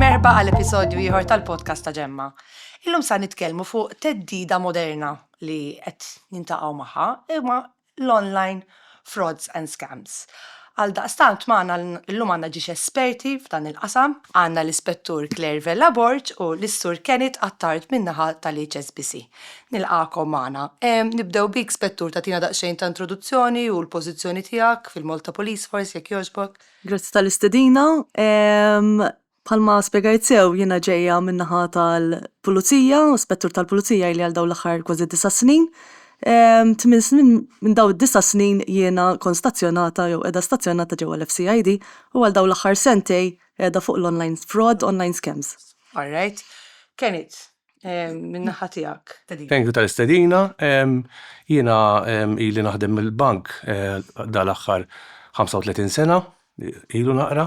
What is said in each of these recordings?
Merba għal episodju ieħor tal-podcast ta' Ġemma. Illum sa nitkellmu fuq teddida moderna li qed nintaqgħu magħha imma l-online frauds and scams. Għal daqstant maħna l-lum għanna ġiex esperti f'dan il-qasam, għanna l-ispettur Claire Vella Borg u l-issur Kenneth Attard minnaħa tal-HSBC. Nilqagħkom magħna. Nibdew bik Spettur tagħtina daqsxejn ta' introduzzjoni u l-pożizzjoni tiegħek fil-Malta Police Force jekk jogħġbok. Grazzi tal-istedina. Bħalma spjegajt sew jiena ġejja min-naħa tal-Pulizija, Spettur tal-Pulizija ili għal dawn l-aħħar kważi disa' snin. Tmien snin minn dawn id-disa' snin jiena kont stazzjonata jew qiegħda stazzjonata ġewwa l-FCID u għal dawn l-aħħar sentejn qiegħda fuq l-online fraud, online scams. All right. Kenit, minn naħa tiegħek. Thank you tal-istedina. Jiena ili naħdem mill-bank dal-aħħar 35 sena, ilu naqra,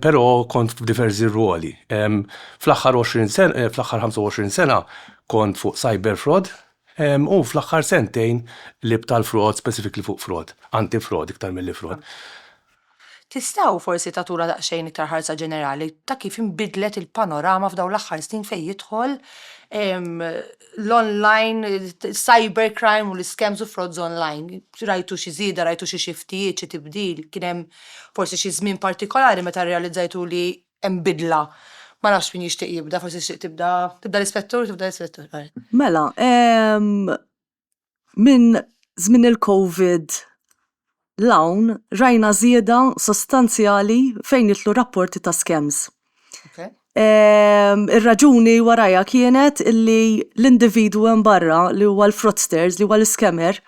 però kont f'diversi rwoli. Fl-aħħar 20 sena, fl-aħħar 25 sena kont fuq cyber fraud u fl-aħħar sentejn libt għal fraud, specifically fuq fraud, anti-fraud iktar milli fraud. Tistgħu forsi tagħtuna daqsxejn iktar ħarsa ġenerali ta' kif inbidlet il-panorama f'dawn l-aħħar snin fejn jidħol l-online, cyber crime u l-iskems u frauds online? Rajtu xi żieda, rajtu xi xiftijiet, xi tibdil? Kien hemm forsi xi żmien partikolari meta rrealizzajtu li hemm bidla? Ma nafx min jixtieq jibda, forsi tixtieq tibda, tibda l-Ispettur, tibda l-Ispettur. Mela, minn żmien il-Covid 'l hawn rajna żieda sostanzjali fejn jidħlu rapporti ta' scams. Ir-raġuni warajha kienet li l-individwu hemm barra li huwa l-fraudsters, li huwa l-iscammer,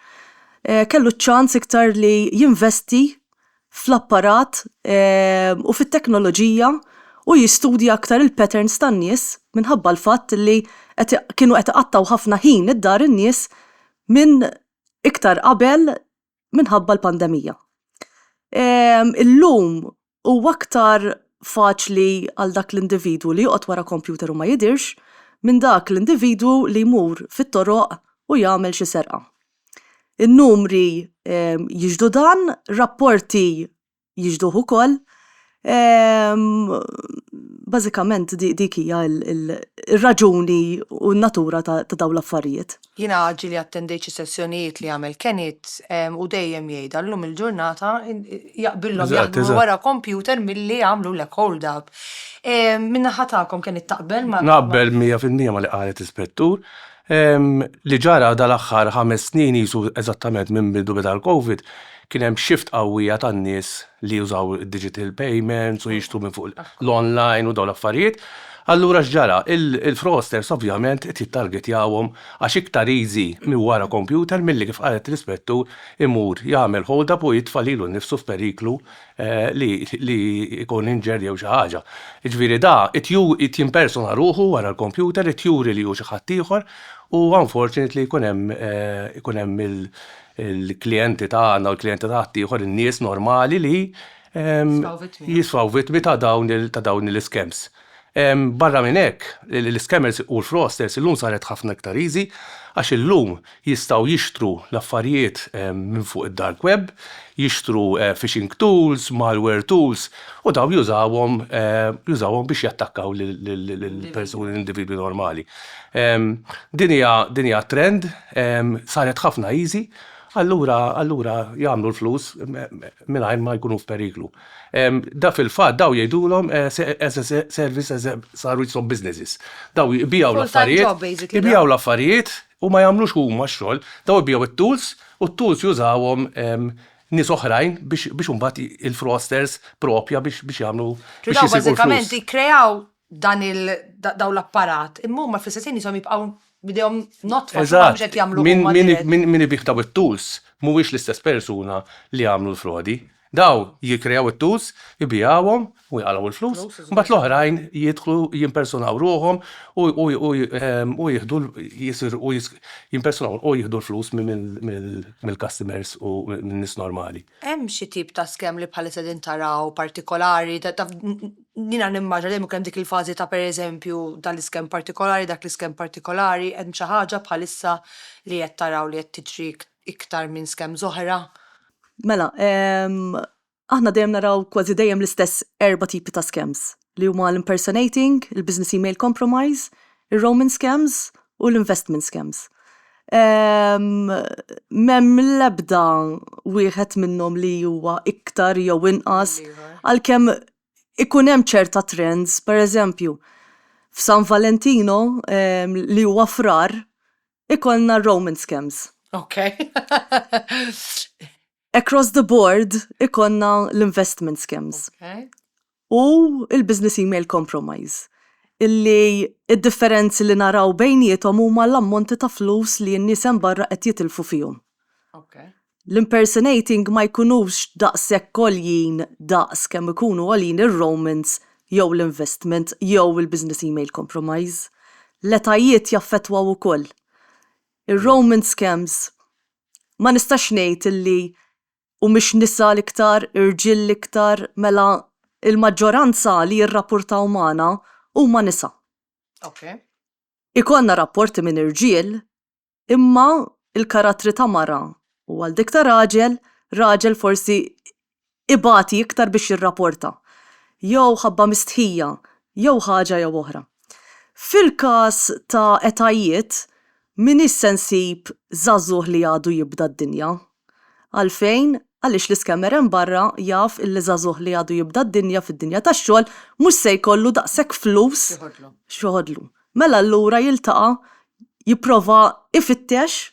kellu ċ-ċans iktar li jinvesti fl-apparat u fit-teknoloġija u jistudja aktar il-patterns tan-nies minħabba l-fatt li qed kienu qed iqattgħu ħafna ħin id-dar in-nies minn iktar qabel minħabba l-pandemija. Illum huwa aktar faċli għal dak l-individwu li joqgħod wara kompjuter u ma jidhirx minn dak l-individwu li jmur fit-toroq u jagħmel xi serqa. In-numri jixhdu dan, rapporti jixhduh ukoll. Bażikament dik hija r-raġuni u n-natura ta' dawn l-affarijiet. Jiena ġieli attendejt xi sessjonijiet li għamel Kenneth u dejjem jgħidha, llum il-ġurnata jaqbillhom jaħdmu wara kompjuter milli jagħmlulek hold up. Min-naħa tagħkom Kenneth taqbel ma'. Naqbel mija fil-mija ma' li qalet l-Ispettur. Ehm, li ġara dal-aħħar ħames snin qisu eżattament minn bidu beda l-Covid, kien hemm shift qawwija tan-nies li jużaw id-digital payments u jixtru minn fuq l-online u dawn l-affarijiet. Allura x'ġara? Il-fraudsters ovvjament qed jittargetjawhom għax iktar easy minn wara kompjuter milli kif qalet l-Ispettur imur jagħmel hold-up u jitfa' lilu nnifsu f'periklu li li jkun injured jew xi ħaġa. Jiġifieri da qed qed jimpersona ruħu wara l-kompjuter, qed juri li hu xi ħaddieħor u unfortunately jkun hemm ikun hemm il-klijenti tagħna u l-klijenti ta' ħaddieħor, in-nies normali li jisfaw vittmi ta' dawn l-iskems. Barra minn hekk, l-iskemers u l-frosters illum saret ħafna iktar easy għax illum jistgħu jixtru l-affarijiet minn fuq id-dark web, jixtru phishing tools, malware tools u dawn jużawhom jużawhom biex jattakkaw lill-persuni l-individwi normali. Din hija din hija trend saret ħafna easy allura allura jagħmlu l-flus mingħajr ma jkunu f'periklu. Da fil-fatt daw jgħidulhom as a service as a saru jisom businesses. Daw jbiegħu l-affarijiet, jbiegħu l-affarijiet u ma jagħmlux huma x-xogħol, daw jbiegħu t-tools u t-tools jużawhom nies oħrajn biex imbagħad il-fraudsters proprja biex jagħmlu. Daw bażikament jikkreaw dan il dawn l-apparat, imma huma fl-istess ħin jisom jibqgħu bidejhom notfa x'huma mhux qed jagħmlu huma dirett. Min min ibih daw it-tools mhuwiex l-istess persuna li għamlu l-frodi. Daw jikkreaw it-tools, ibigħuhom u jaqalgħu l-flus, mbagħad l-oħrajn jidħlu jimpersunaw ruħhom u jieħdu jisirqu jimpersunaw u jieħdu l-flus mill-customers u min-nies normali. Hemm xi tip ta' scam li bħalissa qegħdin taraw partikolari? Jiena nimmaġina dejjem ikun hemm dik il-fażi ta' pereżempju dan l-iskem partikolari, dak l-iskem partikolari, hemm xi ħaġa bħalissa li qed taraw li qed tiġri iktar minn schemes oħra? Mela, aħna dejjem naraw kważi dejjem l-istess erba' tipi ta' schemes, li huma l-impersonating, il-business email compromise, ir-roaming scams u l-investment scams. M'hemm l-ebda wieħed minnhom li huwa iktar jew inqas għalkemm ikun hemm ċerta trends, pereżempju, f'San Valentino li huwa Frar, ikollna Roman scams. Ok. Across the board ikollna l-investment scams. Ok. U il-business email compromise. Illi id-differenzi li naraw bejniethom huma l-ammonti ta' flus li n-nies hemm barra qed jitilfu fihom. Ok. l-impersonating ma jkunux daqshekk għoljin daqs kemm ikunu għoljin ir-romance jew l-investment jew il-business email compromise. L-etajiet jaffettwaw ukoll. Ir-romance scams ma nistax ngħid illi humiex nisa l-iktar, irġiel l-iktar, mela l-maġġoranza li jirrappurtaw magħna huma nisa. Ikollna rapporti minn irġiel Imma l-karattri ta' mara u għal dik ta' raġel, raġel forsi ibati iktar biex jirraporta. Jew ħabba mistħija, jew ħaġa jew oħra. Fil-każ ta' etajiet, m'iniex se nsib żagħżugħ li għadu jibda d-dinja, Għalfejn? Għaliex l-iscammer hemm barra jaf illi żagħżugħ li għadu jibda d-dinja fid-dinja tax-xogħol mhux se jkollu daqshekk flus x'joħodlu. Mela allura jiltaqa' jipprova ifittex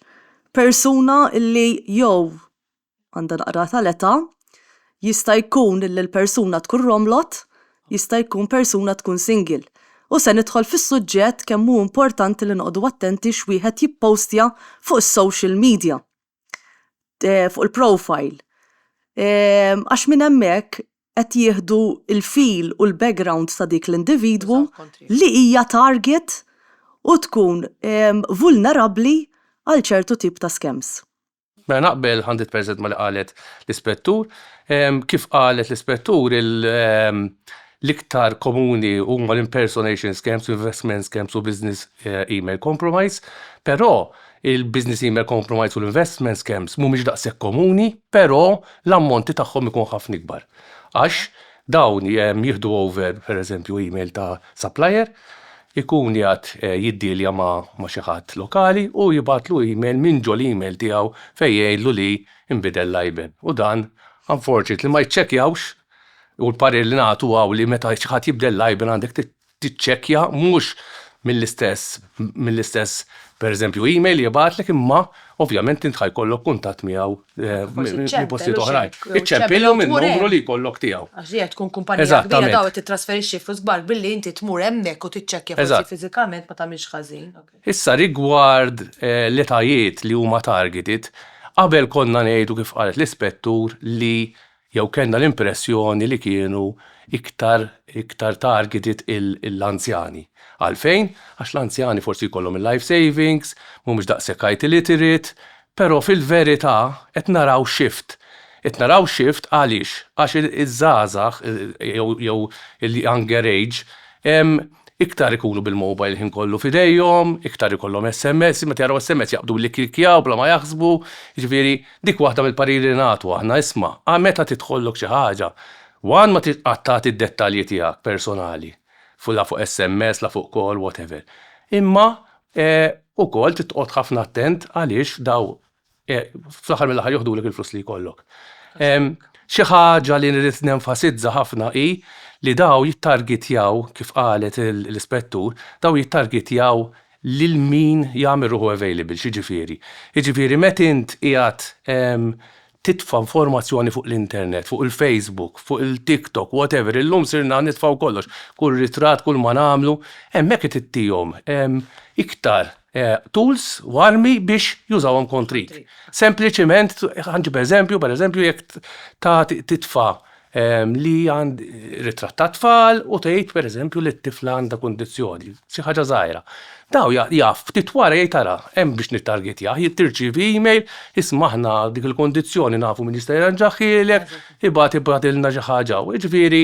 persuna illi jew għandha naqra tal-età, jista' jkun illi l-persuna tkun romlot, jista' jkun persuna tkun single. U se nidħol fis-suġġett kemm hu importanti li noqogħdu attenti x'wieħed jippostja fuq is-social media. fuq il-profile għax minn hemmhekk qed jieħdu l-feel u l-background ta' dik l-individwu li hija target u tkun vulnerabbli għal ċertu tip ta' scams. Mela naqbel 100% ma' li qalet l-Ispettur. Kif qalet l-Ispettur l-iktar komuni huma l-impersonation scams, investment scams u business email compromise, però Il-business email compromise u l-investment scams mhumiex daqshekk komuni, però l-ammonti tagħhom ikun ħafna ikbar. Għax dawn jieħdu over, pereżempju, email ta' supplier, ikun qiegħed jiddealja ma' xi ħadd lokali u jibgħatlu email minn ġol-email tiegħu fejn jgħidlu li nbidel l-IBAN. U dan, unfortunately, ma jiċċekkjawx u l-parir li nagħtu hawn li meta xi ħadd jibdel l-IBAN għandek tiċċekkja mhux mill-istess mill-istess pereżempju email jibgħatlek imma ovvjament int ħajkollok kuntatt miegħu minn postijiet oħrajn. Iċċempilhom minn numru li jkollok tiegħu. Għax dejja tkun kumpanija kbira daw qed tittrasferixxi flus kbar billi inti tmur hemmhekk u tiċċekkja forsi fiżikament ma tagħmilx ħażin. Issa rigward l-etajiet li huma targeted, qabel konna ngħidu kif qalet l-Ispettur li jew kellna l-impressjoni li kienu iktar iktar targeted l-anzjani. Għalfejn? Għax l-anzjani forsi jkollhom il-life savings, mhumiex daqshekk IT literate, però fil-verità qed naraw shift. Qed naraw shift għaliex? Għax iż-żgħażagħ jew il-younger age iktar ikunu bil-mobile il-ħin kollu f'idejhom, iktar ikollhom SMS, meta jaraw SMS jaqbdu billi jklikkjaw bla ma jaħsbu, jiġifieri Dik waħda mill-pariri li nagħtu aħna, isma', a meta tidħollok xi ħaġa, one ma titqgħad tagħti d-dettalji tiegħek personali, fu la fuq SMS, la fuq call, whatever. Imma e, ukoll trid toqgħod ħafna attent għaliex daw e, fl-aħħar mill-aħħar joħdulek il-flus li jkollok. E, xi ħaġa li nrid nenfasizza ħafna hi li daw jittargitjaw, kif qalet l-ispettur, daw jittargitjaw lil min jagħmel ruħu available, x'jiġifieri? Jiġifieri meta int qiegħed titfa' informazzjoni fuq l-internet, fuq il-Facebook, fuq il-TikTok, whatever, illum sirna nitfgħu kollox, kull ritratt, kull ma nagħmlu, hemmhekk qed ittihom iktar tools u armi biex jużawhom kontrik. Sempliċiment, ħa nġib eżempju, pereżempju jekk tagħti titfa' li għand ritratt tat-tfal u tgħid pereżempju li t-tifla għandha kundizzjoni, xi ħaġa żgħira. Daw jaf ftit wara jgħid ara, hemm biex nittargetjah, tirċievi email, isma' aħna dik il-kundizzjoni nafu min jista' jirranġahielek, ibgħat ibgħatilna xi ħaġa hawn. Jiġifieri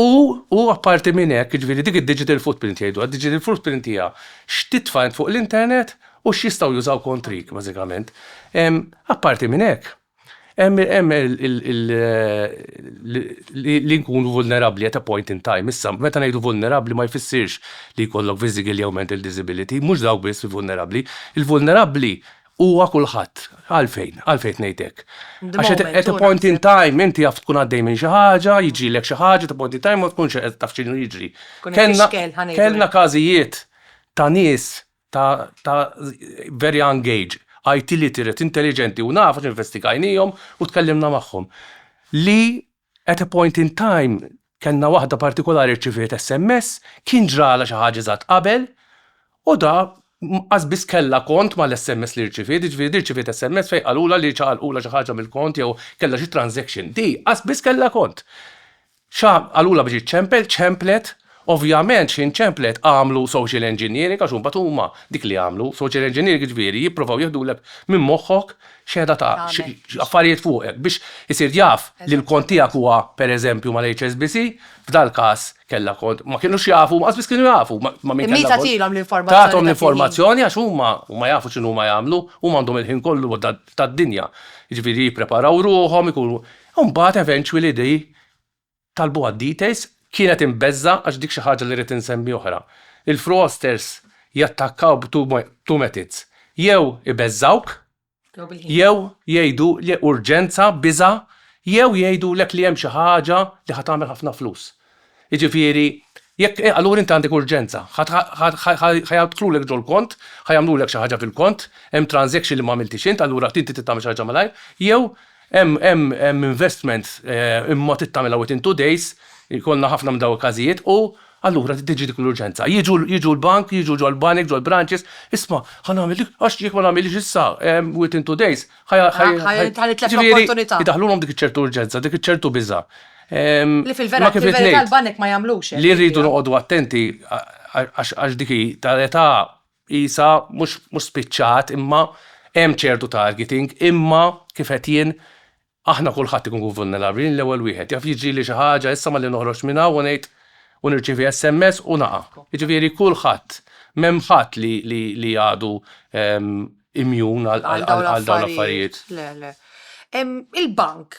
u u apparti minn hekk, jiġifieri dik id-digital footprint jgħiduha, digital footprint hija x'titfa' int fuq l-internet u x'jistgħu jużaw kontrik bażikament. Apparti minn hekk, Hemm li nkunu vulnerabbli at a point in time. Issa, meta ngħidu vulnerabbli ma jfissirx li jkollok physical jew mental disability, mhux dawk biss li vulnerabbli. Il-vulnerabbli huwa kulħadd. Għalfejn? Għalfejn qed ngħid hekk? Għax at a point in time inti jaf tkun għaddej minn xi ħaġa, jiġrilek xi ħaġa, at a point in time ma tkunx taf x'inhu jiġri. Kellna każijiet ta' nies ta' ta' very young age, IT literate, intelliġenti u naf għax investigajnihom u tkellimna magħhom, li at a point in time kellna waħda partikolari rċiviet SMS, kien ġralha xi ħaġa eżatt qabel u da as biss kellha kont mal-SMS li rċiviet, jiġifieri di rċiviet SMS fejn qalulha li ċaqalqulha xi ħaġa mill-kont jew kellha xi transaction. Di as biss kellha kont. Xa, qalulha biex iċċempel, ċemplet. Ovvjament xi nċemplet, għamlu social engineering għax imbagħad huma dik li jagħmlu. Social engineering jiġifieri jippruvaw jieħdulek minn moħħok x'qiegħda tagħmel, affarijiet fuqek biex isir jaf li l-kont tiegħek huwa pereżempju mal-HSBC, f'dal-każ kellha kont, ma kinux jafu, lanqas biss kienu jafu ma' min kellha kont. Imma hi tagħtilhom l-informazzjoni. Tagħthom l-informazzjoni għax huma, huma jafu x'inhuma jagħmlu, huma għandhom il-ħin kollu tad-dinja. Jiġifieri jippreparaw ruħhom, ikunu, Imbagħad eventually they talbu għad-details, kienet imbeżżgħa għax dik xi ħaġa li rrid insemmi oħra. Il-fraudsters jattakkaw b' two methods, jew ibeżżgħuk, jew jgħidu li urġenza, biża', jew jgħidulek li hemm xi ħaġa li ħa tagħmel ħafna flus. Jiġifieri, jekk, eh, allura inti għandek urġenza. Ħa, ħa, ħa, ħa jidħlulek ġol-kont, ħa jagħmlulek xi ħaġa fil-kont, hemm transaction li m'għamiltix int, allura inti trid tagħmel xi ħaġa malajr, jew hemm, hemm, hemm investment, eh, imma trid tagħmilha within two days, ikollna ħafna minn dawn il-każijiet, u allura trid tiġi dik l-urġenza. Jiġu, jiġu l-bank, jiġu ġol-banek, ġol-branches, isma', ħa nagħmel dik, għax jekk ma nagħmilhiex issa, eh, within two days, Jidaħlulhom dik ċertu urġenza, dik ċertu biża. Li fil-vera l-banek ma jagħmlux. Li rridu noqogħdu attenti għax dik tal-età isa mhux spiċċat imma hemm ċertu targeting imma kif qed jien aħna kulħadd ikun vulnerabbli l-ewwel wieħed. Jaf jiġrili xi ħaġa issa malli noħroġ minn hawn u ngħid u nirċievi SMS u naqa'. Jiġifieri kulħadd m'hemm ħadd li għadu imjun għal Għal dawn għal dawn l-affarijiet. l-affarijiet. Le, le. Em, Il-bank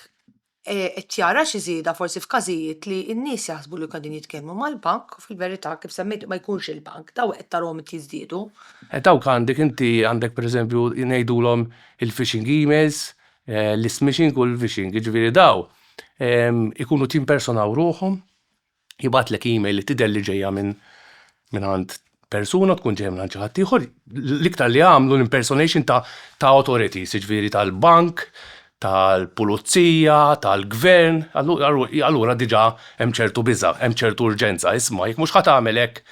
eh, qed jara xi żieda forsi f'każijiet li n-nies jaħsbu li qegħdin jitkellmu mal-bank u fil-verità kif semmejt ma jkunx il-bank, daw qed tarahom qed jiżdiedu. Eh, Dawk għandek inti għandek pereżempju ngħidulhom il-phishing emails, eh, l-smishing u l-vishing, jiġifieri daw em, ikunu timpersonaw ruħhom jibgħatlek email li tidher li ġejja minn minn għand persuna tkun ġejja minn għand xi ħadd ieħor, l-iktar li għamlu l-impersonation ta' ta' authority, siġifieri tal-bank, tal-pulizija, tal-gvern, allura diġà hemm ċertu biża', hemm ċertu urġenza, isma' jekk mhux ħa tagħmel hekk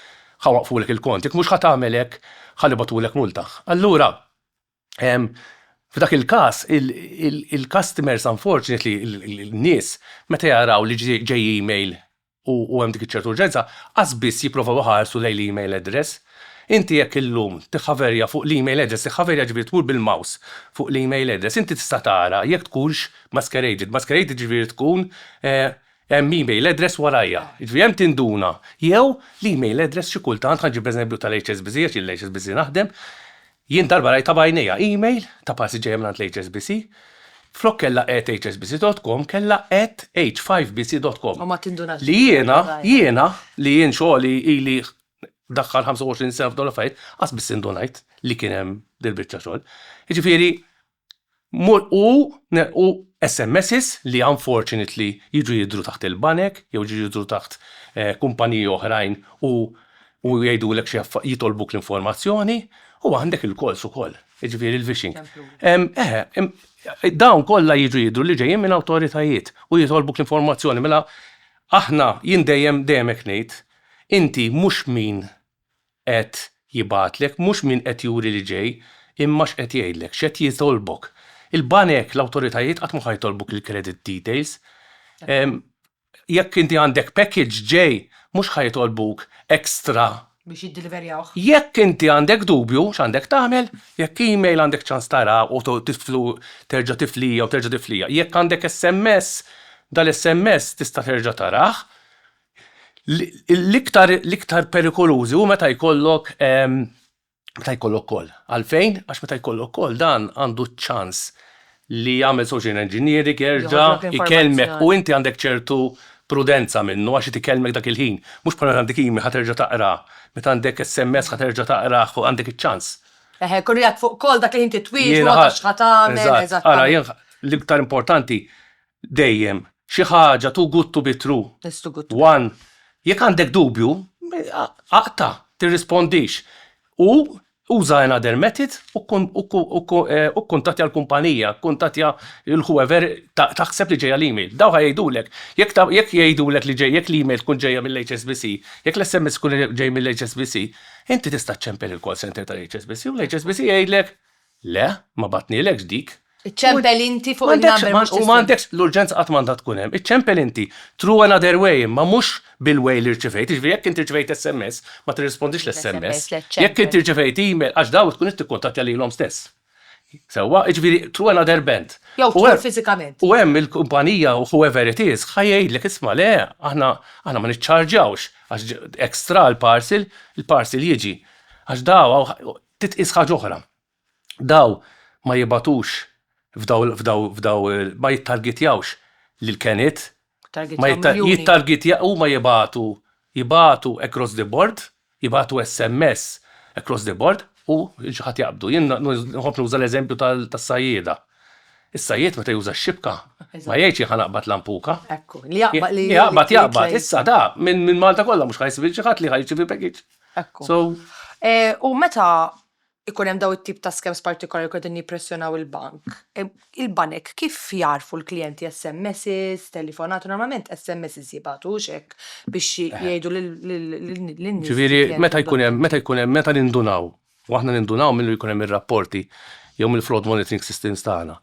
ħa waqqfulek il-kont, jekk mhux ħa tagħmel hekk ħa nibgħatulek multa. Allura, F'dak il-każ, il-customers unfortunately, in-nies, meta jaraw li ġej email u hemm dik iċ-ċertu urġenza, qas biss jipprovaw iħarsu lejn l-email address. Inti jekk illum tiħħaverja fuq l-email address, tiħħaverja jiġifieri tmur bil-mouse fuq l-email address, inti tista' tara jekk tkunx masqueraded. Masqueraded jiġifieri tkun hemm email address warajha. Jiġifieri hemm tinduna. Jew l-email address xi kultant, ħa niġi bl-eżempju tal-HSBC għax jien l-HSBC naħdem, Jien darba rajtha b'għajnejja, email ta' parsi ġejja mingħand l-HSBC, flok kellha at hsbc dot com kellha at h5bc dot com. U ma tindunax Li jiena, jiena, li jien xogħli ili ndaħħal 25 sena f'dawn l-affarijiet, qatt biss indunajt li kien hemm dil-biċċa xogħol. Jiġifieri, U nilqu SMSs li unfortunately jiġu jidhru taħt il-banek jew jiġu jidhru taħt kumpaniji oħrajn u jgħidulek xi jitolbuk l-informazzjoni u għandek il-calls ukoll, jiġifieri l-vishing. Eħe, dawn kollha jiġu jidhru li ġejjin minn awtoritajiet u jitolbuk l-informazzjoni. Mela aħna, jien dejjem dejjem hekk ngħid, inti mhux min qed jibgħatlek, mhux min qed juri li ġej, imma x'qed jgħidlek, x'qed jitolbok. Il-banek, l-awtoritajiet qatt mhu ħa jitolbuk il-credit details. Jekk inti għandek package ġej, mhux ħa jitolbuk extra. Biex jiddiliverjawh. Jekk inti għandek dubju x'għandek tagħmel, jekk email għandek ċans tara u terġa' tiflija u terġa' tiflija. Jekk għandek SMS, dal-SMS tista' terġa' tarah, L-iktar perikolużi hu meta jkollok meta jkollok koll. Għalfejn? Għax meta jkollok koll dan għandu ċ-ċans li jagħmel social engineering, jerġa' jkellmek u inti għandek ċertu prudenza minnu għax irid ikellmek dak il-ħin. Mhux bħal meta għandek email ħa terġa' taqra, meta għandek sms ħa terġa' taqrah fuq għandek iċ-ċans. Eħe, jkun qiegħed fuq call dak il-ħin titwieġbu ma tafx x'ħa tagħmel, eżatt. Ara, l-iktar importanti Dejjem, xi ħaġa too good to be true. It's too good to be true. 1 Jekk għandek dubju, aqta', tirrispondix, u uża another method u kkuntattja l-kumpanija, kkuntattja lil whoever taħseb li ġejja l-email. Dawn ħa jgħidulek. Jekk jgħidulek li ġej, jekk l-email tkun ġejja mill-HSBC, jekk l-SMS ikun ġej mill-HSBC, inti tista' ċċempel il-call center tal-HSBC u l-HSBC jgħidlek Le, ma bagħtnielekx dik. Iċċempel inti fuq in-number mhux tisma'. U m'għandekx, l-urġenza qatt m'għandha tkun hemm. Iċċempel inti. True another way imma mhux bil-way li rċivejt. Jiġifieri jekk inti rċivejt SMS, ma tirrispondix l-SMS. Jekk inti rċivejt email, għax dawk tkun qed tikkuntattja lilhom stess. Sewwa? Jiġifieri through another band. Jew tmur fiżikament. U hemm il-kumpanija u whoever it is ħa jgħidlek isma' le, aħna ma niċċarġjawx għax extra l-parcel, il-parcel jiġi. Għax daw, Titqies ħaġa oħra, daw ma jibgħatux f'daw f'daw f'daw ma jittargitjawx lill-keniet, ma jittargitja huma jibagħtu jibagħtu across the board, jibagħtu SMS across the board u lil xi ħadd jaqbdu. Jien nħobb nuża l-eżempju tas-sajjieda. Is-sajjied meta juża x-xibka ma jgħidx jien ħa naqbad lampuka. Ekku, li jaqbad li jaqbad. Li jaqbad jaqbad. Issa da minn Malta kollha mhux ħa jsib lil xi ħadd li ħa jirċievi package. Ekku. So. U meta ikun hemm daw it-tip ta' skems partikolari kif qegħdin jippressjonaw il-bank, il-banek kif jagħrfu l-klijenti SMSs, telefonati, normalment SMSs jibgħatu hux hekk biex jgħidu lin-nies. Ġifieri meta jkun hemm, meta jkun hemm, meta nindunaw u aħna nindunaw milli jkun hemm ir-rapporti jew mill-fraud monitoring systems tagħna.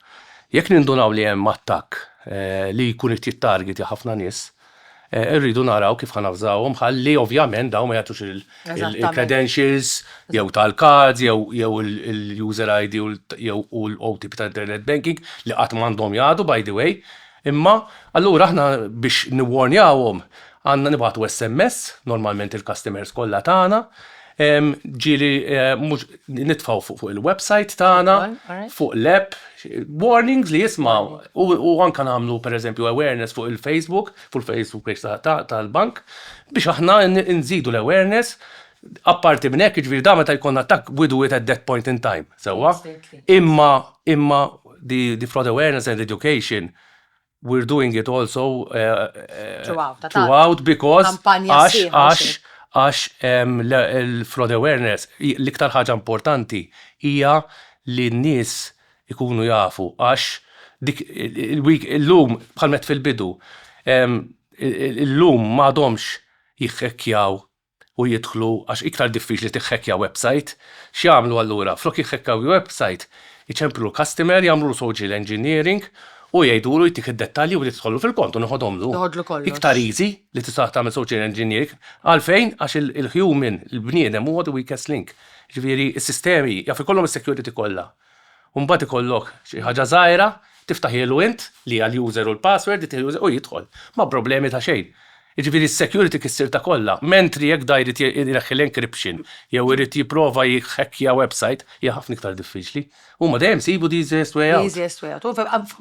Jekk nindunaw li hemm attakk li jkun qed jittargitja ħafna nies, irridu naraw kif ħanavżawhom ħalli ovvjament dawn ma jagħtux il-credentials jew tal-cards jew il-user ID jew u l-OTP tal-internet banking li qatt m'għandhom jagħtu by the way, Imma, allura aħna biex niwwarnjawhom għandna nibgħatu SMS, normalment il-customers kollha tagħna, ġieli mhux nitfgħu fuq il-website tagħna, fuq l-app, warnings li jismgħu u anke nagħmlu pereżempju awareness fuq il-Facebook, fuq il-Facebook page tal-bank biex aħna nżidu l-awareness Apparti minn hekk, jiġifieri dan meta jkollna attakk we do it at that point in time, sewwa? Imma, imma the, the fraud awareness and education we are doing it also throughout because għax, għax, għax il-fraud awareness l-iktar ħaġa importanti hija li n-nies ikunu jafu għax dik illum bħalma għedt fil-bidu, illum m'għadhomx jihhekkjaw u jidħlu għax iktar diffiċli tiħhekkja website, x'jagħmlu allura? Flok jiħhekkaw website iċemplu l-customer, jagħmlulu social engineering u jgħidulu jtik id-dettalji u li tidħollu fil-kont u neħodhomlu. Noħodlu kollox. Iktar easy li tista' tagħmel social engineering. Għalfejn? Għax il-human, il-bniedem huwa the weakest link. Jiġifieri s-sistemi jaf ikollhom is-security kollha. u mbagħad ikollok xi ħaġa żgħira, tiftaħielu int, li hija l-user u l-password, ittieħ l-user u jidħol, ma' problemi ta' xejn. Jiġifieri s-security kissirtha kollha, mentri jekk da jrid ineħħi l-encryption jew irid jipprova jhackeja website, hija ħafna iktar diffiċli. Huma dejjem isibu the easiest way out. The easiest way out.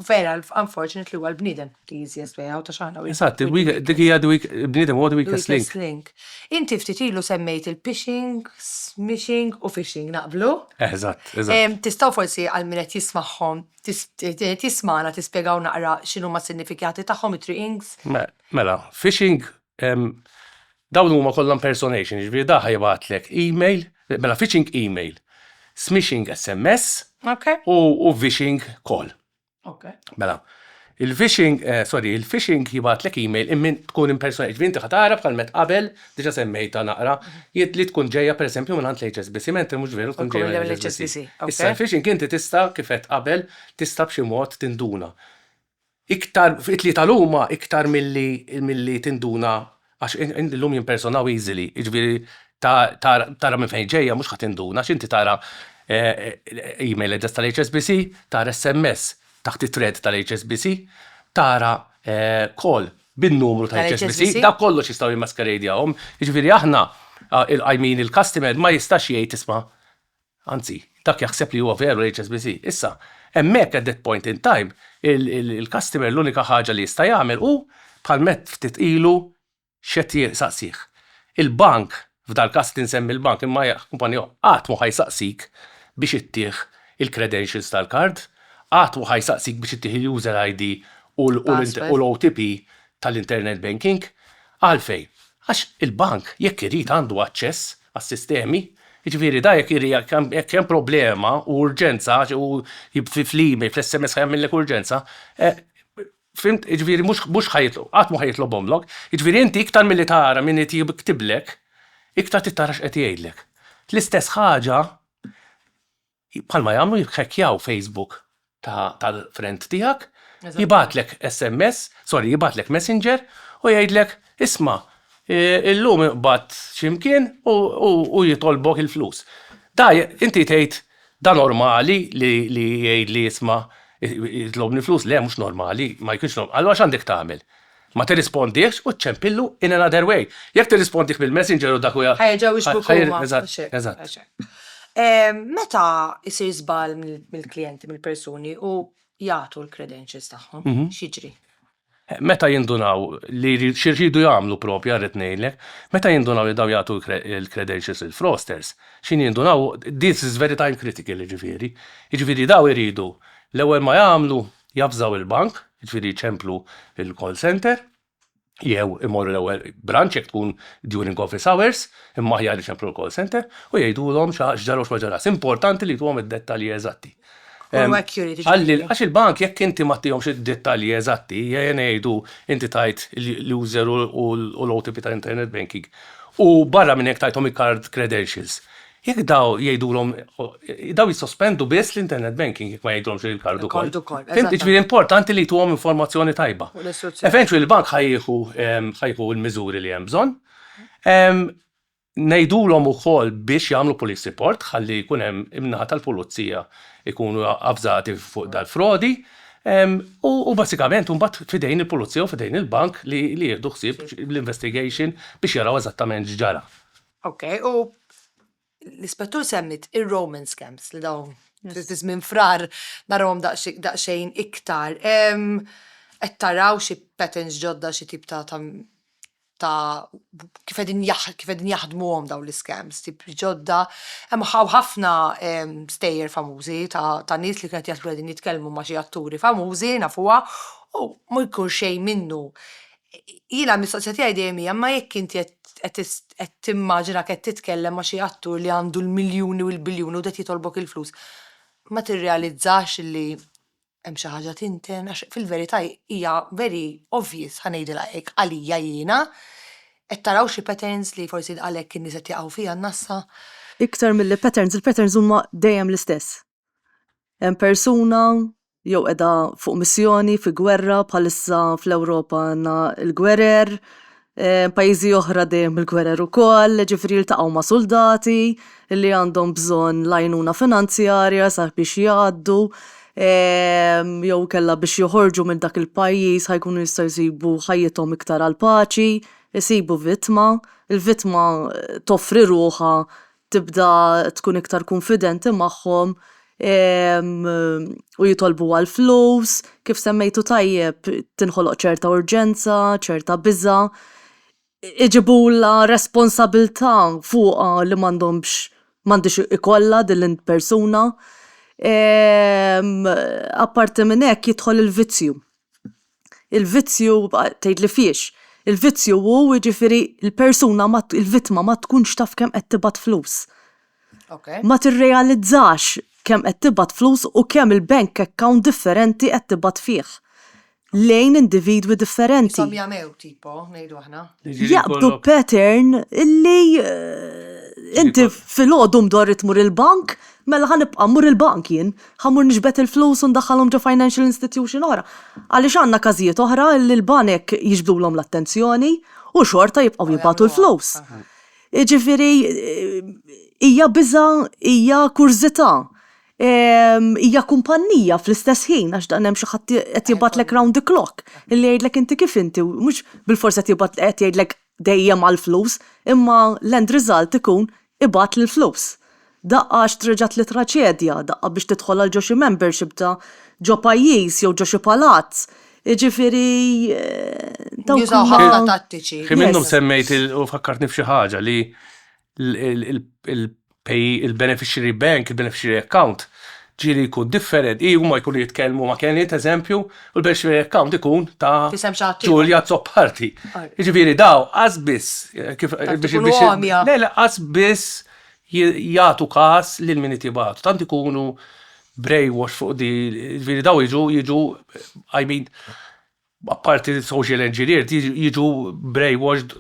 Vera, unfortunately huwa l-bniedem. The easiest way out, għax aħna. Eżatt, dik hija the weak, bniedem huwa the weakest link. link. Inti ftit ilu semmejt il-phishing, smishing u phishing, naqblu? Eżatt, eżatt. Tistgħu forsi għal min qed jismagħhom, tismana tispjegaw naqra x'inhu ma' sinifikati tagħhom it-triqings? Mela, phishing dawn huma kollha impersonation, jiġifieri da ħajbatlek email, mela phishing email, smishing SMS u vishing call. Okay. Mela, il-phishing, eh, sorry, il-phishing jibatlek email immin tkun impersonal, ġifieri inti ħatara bħal met qabel, diġa semmejta naqra, jiet li tkun ġejja per eżempju minn għand l-HSBC, mentri mhux veru tkun ġejja minn l-HSBC. Issa l-phishing inti tista' kifet qabel tista' b'xi mod tinduna. Iktar, it-tlieta l-huma iktar milli milli tinduna Għax illum jimpersonaw easily, jiġifieri tara minn fejn ġejja mhux ħa tinduna għax inti tara email address tal-HSBC, tara SMS taħt it-thread tal-HSBC, tara call bin-numru tal-HSBC, dak kollox jistgħu jimmaskerejdjawhom. Jiġifieri aħna, il-qajmin, il-customer ma jistax jgħid isma' Anzi, dak jaħseb li huwa veru l-HSBC. Issa, hemmhekk, at that point in time, il-customer l-unika ħaġa li jista' jagħmel hu bħal mett ftit ilu x'qed jsaqsih. Il-bank, f'dal-każ li nsemmi l-bank imma hija kumpanija oħra, qatt mhu ħa jsaqsik biex ittih il-credentials tal-card, qatt mhu ħa jsaqsik biex ittih il-user ID u l-OTP tal-internet banking. Għalfejn? Għax il-bank jekk irid għandu aċċess għas-sistemi, jiġifieri dan jekk irid jekk hemm jekk hemm problema u urġenza għax hu fi fl-email, fl-SMS ħa jagħmillek urġenza, fhimt, jiġifieri mhux mhux ħa jitlob qatt mhu ħa jitlobhomlok, jiġifieri inti iktar milli tara min qed jiktiblek, iktar trid tara x'qed jgħidlek. L-istess ħaġa Bħalma jagħmlu jikkhekjaw Facebook tal-friend tiegħek, jibgħatlek SMS, sorry jibgħatlek Messenger u jgħidlek isma' illum inqbadt xi mkien u jitolbok il-flus. Da inti tgħid da normali li jgħidli isma' jitlobni flus, le mhux normali, ma jkunx normali, allura x'għandek tagħmel? Ma tirrispondihx u ċċempillu in another way. Jekk tirrispondih bil-messenger u dak u. Ħa jerġgħu jixbuk huma. Eżatt, eżatt. Meta jsir żball mill-klijenti, mill-persuni u jagħtu l-credentials tagħhom, x'jiġri? Meta jindunaw li x'irridu jagħmlu proprja rrid ngħidlek, meta jindunaw li dawn jagħtu l-credentials lill-fraudsters, x'inhi jindunaw, this is very time critical jiġifieri, jiġifieri dawn iridu l-ewwel ma jagħmlu, javżaw il-bank, jiġifieri jċemplu l-call centre, jew imorru l-ewwel branċ jekk tkun during office hours, imma aħjar iċemplu l-call centre, u jgħidulhom x'ġara u x'ma ġarax. Importanti li jtuhom id-dettalji eżatti. Għax il-bank jekk inti ma tihomx id-dettalji eżatti, jgħin jgħidu inti tajt l-user u l-OTP tal-internet banking. U barra minn hekk tajthom il-card credentials. Jekk daw jgħidulhom daw jissospendu biss l-internet banking jekk ma jgħidulhomx li l-kard ukoll. Il-kard ukoll, Fimt, eżattament. jiġifieri importanti li tuhom informazzjoni tajba. U l-istruzzjoni. Eventually il-bank ħa jieħu ehm, ħa jieħu l-miżuri li hemm bżonn. Ehm, Ngħidulhom ukoll biex jagħmlu police report ħalli jkun hemm imnaħa tal-pulizija jkunu avżati fuq dal-frodi. Ehm, U u basikament imbagħad fidejn il-pulizija u fidejn il-bank li li jieħdu ħsieb l-investigation biex jaraw eżattament x'ġara. Ok, u l-ispettur semmit ir-Roman scams li dawn fi żmien frar narawhom daqsxejn iktar. Qed taraw xi patterns ġodda xi tip ta' ta' kif qegħdin kif qegħdin jaħdmuhom dawn l-iskams, tip ġodda. Hemm ħafna stejjer famużi ta' nies li qed jaħsbu qegħdin jitkellmu ma' xi atturi famużi nafuha u ma jkun xejn minnu. jiena mistoqsija tiegħi dejjem hija ma jekk inti qed qed qed timmaġina qed titkellem ma' xi attur li għandu l-miljuni u l-biljuni u qed jitolbok il-flus, ma tirrealizzax li hemm xi ħaġa tinten għax fil-verità hija very obvious ħa ngħidilha hekk għalija jiena. Qed taraw xi patterns li forsi għalhekk in-nies qed jaqgħu fiha n-nassa? Iktar milli patterns, il-patterns huma dejjem l-istess. Hemm persuna jew qiegħda fuq missjoni fi gwerra bħalissa fl-Ewropa għandna l-gwerer, pajjiżi oħra dejjem il-gwerer ukoll, ġifieri jiltaqgħu ma' suldati li għandhom bżonn l-għajnuna finanzjarja sabiex jgħaddu jew inkella biex joħorġu minn dak il-pajjiż ħa jkunu jistgħu jsibu ħajjithom iktar għall-paċi, isibu vittma, il-vittma toffri ruħha tibda tkun iktar kunfidenti magħhom u jitolbu għall-flus, kif semmejtu tajjeb tinħoloq ċerta urġenza, ċerta biża', iġibulha responsabilità fuqha li m'għandhomx m'għandhiex ikollha din il-persuna. Apparti minn hekk jidħol il-vizzju. il-vizzju, tgħid li fiex, il-vizzju hu jiġifieri l-persuna ma, il-vittma ma tkunx taf kemm qed tibgħat flus. Ma tirrealizzax kemm qed tibgħat flus u kemm il-bank account differenti qed tibgħat fih lejn individwi differenti. Ishom jagħmew tipo, ngħidu aħna. Jaqbdu pattern li inti filgħodu mdorri tmur il-bank, Mela ħa nibqa' mmur il-bank jien? Ħa mmur niġbed il-flus u ndaħħalhom ġo financial institution oħra? Għaliex għandna każijiet oħra li l-banek jiġbdulhom l-attenzjoni u xorta jibqgħu jibagħtu l-flus. Jiġifieri hija biża', hija kurżità, hija kumpannija fl-istess ħin għax dan hemm xi ħadd qed jibgħatlek round the clock li jgħidlek inti kif inti u mhux bilfors qed jibgħat qed jgħidlek dejjem għall-flus imma l-end result ikun ibgħat l-flus. Daqqa għax treġgħet li traċedja, daqqa biex tidħol għal ġo xi membership ta' ġo pajjiż jew ġo xi palazz. Jiġifieri dawk huma. Jużaw ħafna tattiċi. Hi minnhom semmejt u fakkartni f'xi ħaġa li il-beneficiary bank, il-beneficiary account, ġieli jkun differenti, huma jkunu jitkellmu ma' Kenny, eżempju, u l-beneficiary account ikun ta' Julia Zopparti. Ġifieri daw, qas biss, kif biex għamja. Le, le, qas biss jagħtu każ lil min qed jibgħatu. Tant ikunu brainwash fuq di, ġifieri daw jiġu, jiġu, I mean, Apparti li social engineered jiġu brainwashed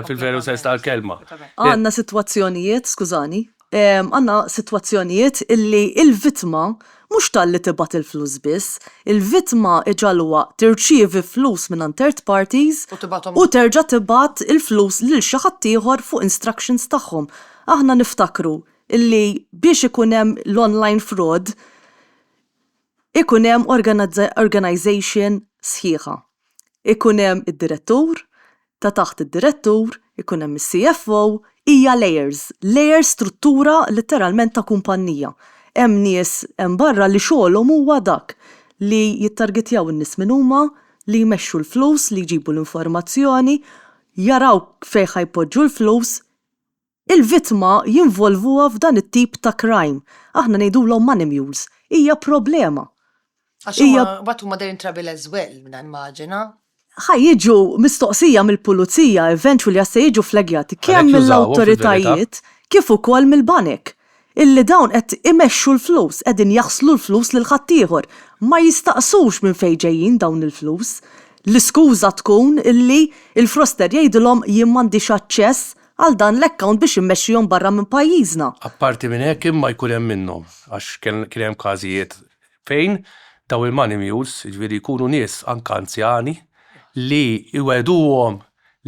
fil-veru sens tal-kelma. Għandna sitwazzjonijiet, skużani, għandna sitwazzjonijiet illi l-vittma mhux talli tibgħat il-flus biss, il-vittma iġagħluha tirċievi flus mingħand third parties u terġa' tibgħat il-flus lil xi ħadd ieħor fuq instructions tagħhom. Aħna niftakru illi biex ikun hemm l-online fraud, ikun hemm organization sħiħa. Ikun hemm id-direttur, ta' taħt id-direttur ikun hemm is-CFO, hija layers, layers struttura litteralment ta' kumpannija. Hemm nies hemm barra li xogħolhom huwa dak li jittargetjaw in-nies min huma, li jmexxu l-flus, li jġibu l-informazzjoni, jaraw fejn ħa jpoġġu l-flus, il-vittma jinvolvuha f'dan it-tip ta' crime. Aħna ngħidulhom money mules. Hija problema. Għax huma, Hija- mbagħad huma they're in trouble as well, mina nimmaġina. Ħa jiġu mistoqsija mill-pulizija, eventually għax se jiġu flaggati kemm Għalhekk jużawhom fil-verità. mill-awtoritajiet kif ukoll mill-banek. illi dawn qed imexxu l-flus, qegħdin jaħslu l-flus lil ħaddieħor. Ma jistaqsux minn fejn ġejjin dawn il-flus. L-iskuża tkun illi l-froster jgħidilhom jien m'għandix aċċess għal dan l-account biex immexxihom barra minn pajjiżna. Apparti minn hekk imma jkun hemm minnhom, għax kien hemm każijiet fejn dawn il-money mules, jiġifieri jkunu nies anke anzjani, li jwegħduhom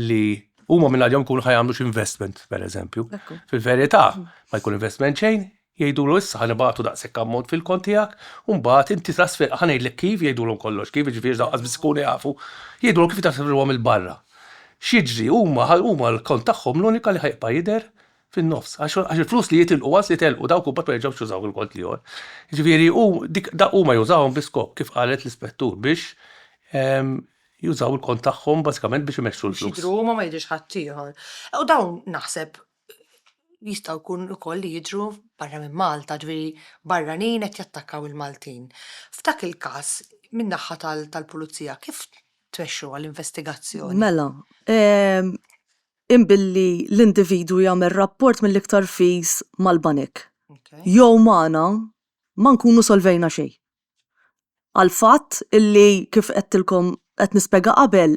li huma minn għalihom jkunu ħajamlu xi investment, pereżempju. Fil-verità, ma jkun investment xejn, jgħidulu issa ħan ibatu daqshekk ammont fil-kont tiegħek, u mbagħad inti trasfer ħa ngħidlek kif jgħidulhom kollox, kif jiġifieri dawn biss ikunu jafu, jgħidulhom kif jitrasferuhom il-barra. X'jiġri huma huma l-kont tagħhom l-unika li ħajbqa' jidher fin-nofs għax għax il-flus li jitilqu għas jitilqu dawk imbagħad ma jerġgħux jużaw il-kont l-ieħor. Jiġifieri hu dik da huma jużawhom bi skop kif qalet l-ispettur biex ehm, jużaw il-kont tagħhom bażikament biex imexxu l-flus. Xidru huma ma jidhirx ħaddieħor. U dawn naħseb jistgħu jkun ukoll li jidhru barra minn Malta, ġifieri barranin qed jattakkaw il-Maltin. F'dak il-każ min-naħa tal-pulizija kif tmexxuha l-investigazzjoni? Mela, ehm, Inn billi l-individwu jagħmel rapport mill-iktar fis mal-banek jew magħna ma nkunu solvejna xejn. Għall-fatt illi kif għedtilkom qed nispjega qabel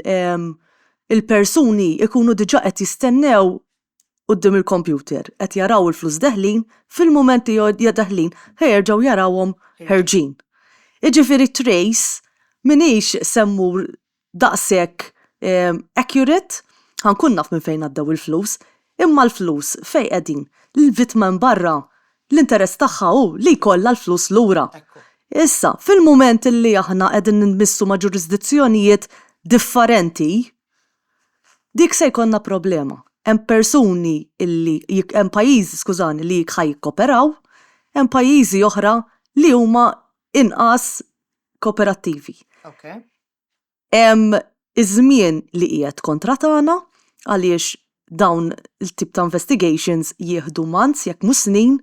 il-persuni jkunu diġà qed jistennew quddiem il-kompjuter qed jaraw il-flus deħlin fil-mument li deħlin ħa jerġgħu jarawhom ħerġin. Jiġifieri trace m'iniex se mmur daqshekk accurate, ħa nkun naf minn fejn għaddew il-flus. Imma l-flus fejn qegħdin? Il-vittma hemm barra, l-interess tagħha hu li jkollha l-flus lura. Issa, fil-mument li aħna qegħdin nitmissu ma' ġurisdizzjonijiet differenti, dik se jkollna problema. Hemm persuni li, hemm pajjiżi, skużani, li ħa jikkoperaw, hemm pajjiżi oħra li huma inqas kooperattivi. Okay. Hemm iż-żmien li qiegħed kontra tagħna għaliex dawn il-tip ta' investigations jieħdu months jekk mhux snin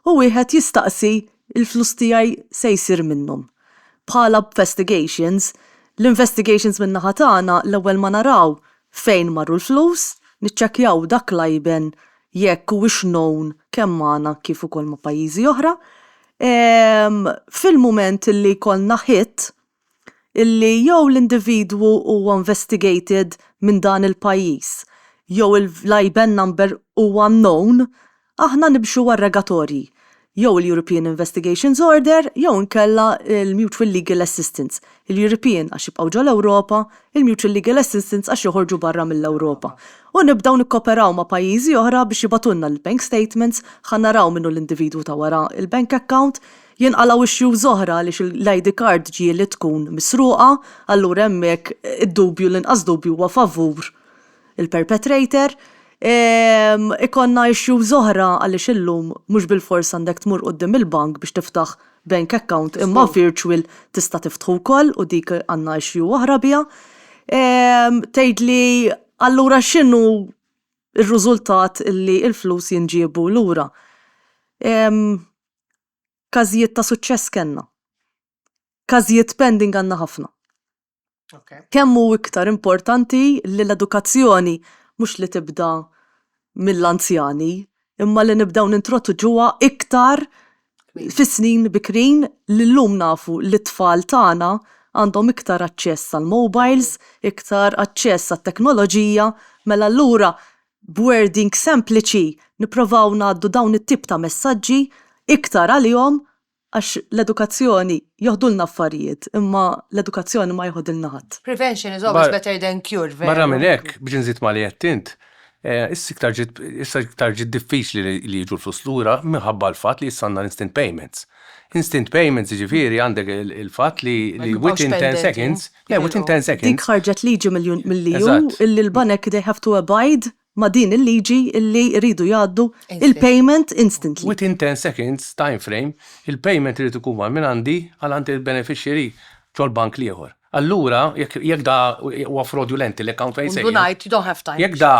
u wieħed jistaqsi il-flus tiegħi se jsir minnhom. Bħala investigations, l-investigations min-naħa tagħna l-ewwel ma naraw Fejn marru l-flus, niċċekkjaw dak l-għajben jekk huwiex known kemm magħna kif ukoll ma' pajjiżi oħra. Fil-mument li jkollna hit li jew l-individwu huwa investigated minn dan il-pajjiż jew l-IBAN number huwa known Aħna nibxu wara r-regatorji, jew il-European Investigations Order jew inkella l-Mutual Legal Assistance, il-European għax jibqgħu ġol-Ewropa, il-Mutual Legal Assistance għax joħorġu barra mill-Ewropa. U nibdew nikkoperaw ma' pajjiżi oħra biex jibgħatulna l-bank statements, ħa naraw min hu l-individwu ta' wara l-bank account. Jinqalgħu issues oħra għaliex l-ID card ġieli tkun misruqa, allura hemmhekk id-dubju, l-inqas dubju huwa favur il-perpetrator, ikollna issues oħra għaliex illum mhux bilfors għandek tmur quddiem il-bank biex tiftaħ bank account imma virtual tista' tiftħu wkoll u dik għandna issue oħra biha. Tgħidli allura x'inhu r-riżultat li l-flus jinġiebu lura? Każijiet ta' suċċess kellna. Każijiet pending għandna ħafna. kemm hu iktar importanti li l-edukazzjoni mhux li tibda mill-anzjani, imma li nibdew nintroduċuha iktar fis-snin bikrin li llum nafu li t-tfal tagħna għandhom iktar aċċess għall-mowbajls, iktar aċċess għat-teknoloġija, mela allura b'wording sempliċi nipprovaw ngħaddu dawn it-tip ta' messaġġi iktar għalihom Għax l-edukazzjoni joħdulna affarijiet, imma l-edukazzjoni ma joħodilna ħadd. Prevention is always better than cure, veru. Barra minn hekk, biex inżid ma' li għedt int, issa iktar ġiet, issa iktar ġiet diffiċli li, li jiġu l-flus lura minħabba l-fatt li issa għandna l-instant payments. Instant payments jiġifieri għandek il-fatt li, li within ten seconds, le within ten seconds. Dik ħarġet liġi mill-EU illi l-banek they have to abide ma' din il-liġi li jridu jgħaddu il-payment instantly. Within 10 seconds time frame, il-payment irid ikun mar mingħandi għal għand il-beneficiary fil-bank l-ieħor. Allura, jekk da huwa fraudulent il-account fejn se jmur. U ndunajt, you don't have time. Jekk da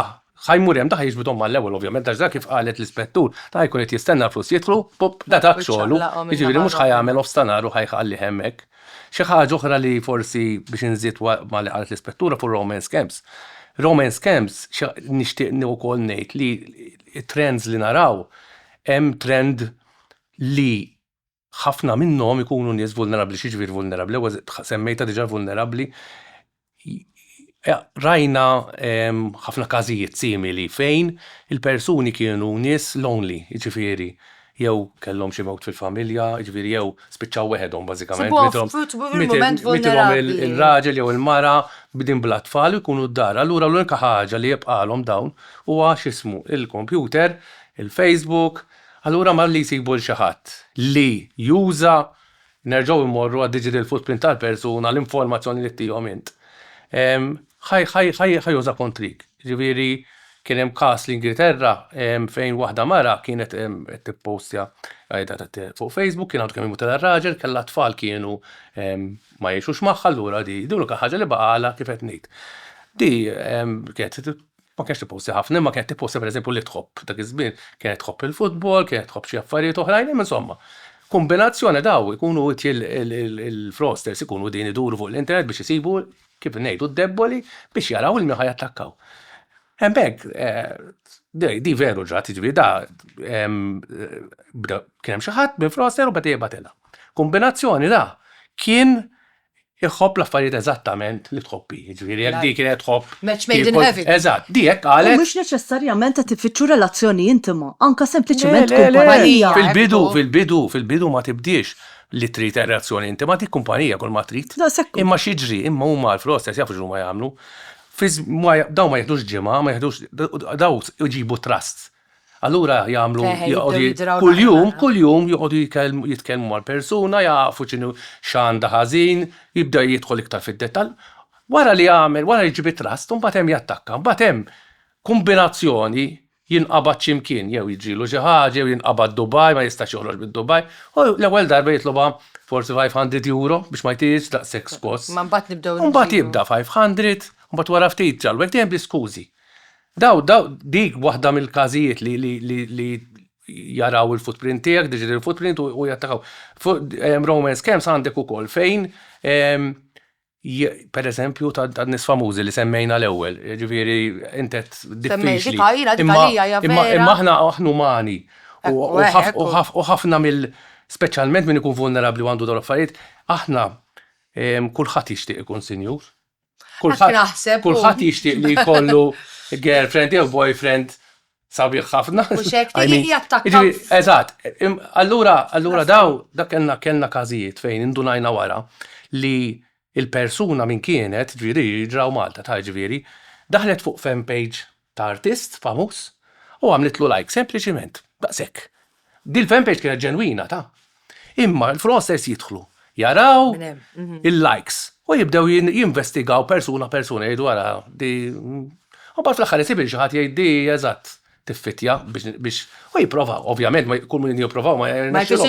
ħa jmur hemm, da ħa jiġbidhom mal-ewwel ovvjament għax da kif qalet l-ispettur, da ħa jkun qed jistenna l-flus jidħlu, pupp, da dak xogħlu, jiġifieri mhux ħa jagħmel off ta' nhar u ħa jħallih hemmhekk. Xi ħaġa oħra li forsi biex inżid ma' li qalet l-Ispettura fuq romance camps. Romance camps nixtieq wkoll ngħid li t-trends li naraw hemm trend li ħafna minnhom ikunu nies vulnerabbli. X'jiġifieri vulnerabbli? Semmejtha diġà vulnerabbli. Rajna ħafna każijiet simili fejn il-persuni kienu nies lonely, jiġifieri jew kellhom xi mewt fil-familja, jiġifieri jew spiċċaw weħedhom bażikament, mitilhom ir-raġel jew il-mara, bdien bla tfal u jkunu d-dar. Allura l-unika ħaġa li jibqagħlhom dawn huwa x'ismu, il-kompjuter, il-Facebook, allura malli jsibu 'l xi ħadd li juża Nerġgħu immorru għad-digital footprint tal-persuna, l-informazzjoni li ttihom int. Ħa juża kontrik. Jiġifieri kien hemm każ l-Ingilterra fejn waħda mara kienet qed tippostja fuq Facebook, kien għadu kemm imutilha r-raġel, kellha tfal kienu ma jgħixux magħha, allura di l-unika ħaġa li baqgħalha kif qed ngħid. Di kienet Ma kienx tipposti ħafna, imma kienet tipposti pereżempju li tħobb. Dak iż-żmien kienet tħobb il-futbol, kienet tħobb xi affarijiet oħrajn, imma insomma. Kumbinazzjoni daw ikunu il-fraudsters ikunu qegħdin iduru fuq l-internet biex isibu, kif ngħidu, d-debboli biex jaraw il-min ħa jattakkaw. Hemmhekk di veru ġrat, jiġifieri da kien hemm xi ħadd minn fraudster u beda jibgħatilha. Kumbinazzjoni da kien Iħobb l-affarijiet eżattament li tħobb hi. Jiġifieri jekk di kienet tħobb. Match made in heaven. Eżatt, di hekk qalet. U mhux neċessarjament qed ifittxu relazzjoni intima, anke sempliċement kumpanija. Le, le, le, fil-bidu, fil-bidu, fil-bidu ma tibdiex li trid relazzjoni intima, dik kumpanija kull ma trid. Daqshekk hu. Imma x'jiġri, imma huma Alf Roses jafu x'huma jagħmlu. Fi żm, dawn ma jiħdux ġimgħa, ma jiħdux, dawn iġibu trusts. Allura jagħmlu Eħe, jibdew joqogħdu jidraw kuljum, naqra. kuljum joqogħdu jikellmu- jitkellmu mal-persuna, jafu x'inhu x'għandha ħażin, jibda jidħol iktar fid-dettall. Wara li jagħmel, wara li jġib it-trust, imbagħad hemm jattakka. Imbagħad hemm kumbinazzjoni, jinqabad xi mkien, jew jiġrilu xi ħaġa, jew jinqabad Dubai, ma jistax joħroġ minn Dubai, u l-ewwel darba jitlobha forsi 500 euro biex ma jtihiex daqshekk skoss. Imma mbagħad nibdew Imbagħad nġibu. jibda 500, imbagħad wara ftit ġalwek dejjem bl-iskużi. Daw, daw, dik waħda mill-każijiet li, li, li, li jaraw il-footprint tiegħek, digital footprint u, u jattakaw. Ehm, romance scams għandek ukoll fejn ehm, je- per eżempju ta' ta' nis famużi li semmejna l-ewwel, ġifieri intet Semmej, diffiċli. dika hija, dika Imma- hija, hija imma- vera. Imma aħna aħna umani u- Ekku, u eh, ħaf- ekku. u ħaf- u ħafna mill speċjalment min ikun vulnerabbli u għandu dawn l-affarijiet, aħna ehm, kulħadd jixtieq ikun sinjur. Kulħadd kulħadd jixtieq li jkollu girlfriend jew boyfriend sabiħ ħafna. Eżatt, allura allura daw dak kellna kellna każijiet fejn indunajna wara li l-persuna minn kienet, ġifieri ġraw Malta ta' ġifieri, daħlet fuq fan page ta' artist famuż u għamlitlu like sempliċiment daqshekk. Dil fan page kienet ġenwina ta'. Imma l-fraudsters jidħlu, jaraw il-likes u jibdew jinvestigaw persuna persuna jgħidu ara di u bad fl-aħħar isib il xi ħadd jgħid di eżatt tiffitja biex u jipprovaw, ovvjament kull min jipprovaw ma jirnexxilhom.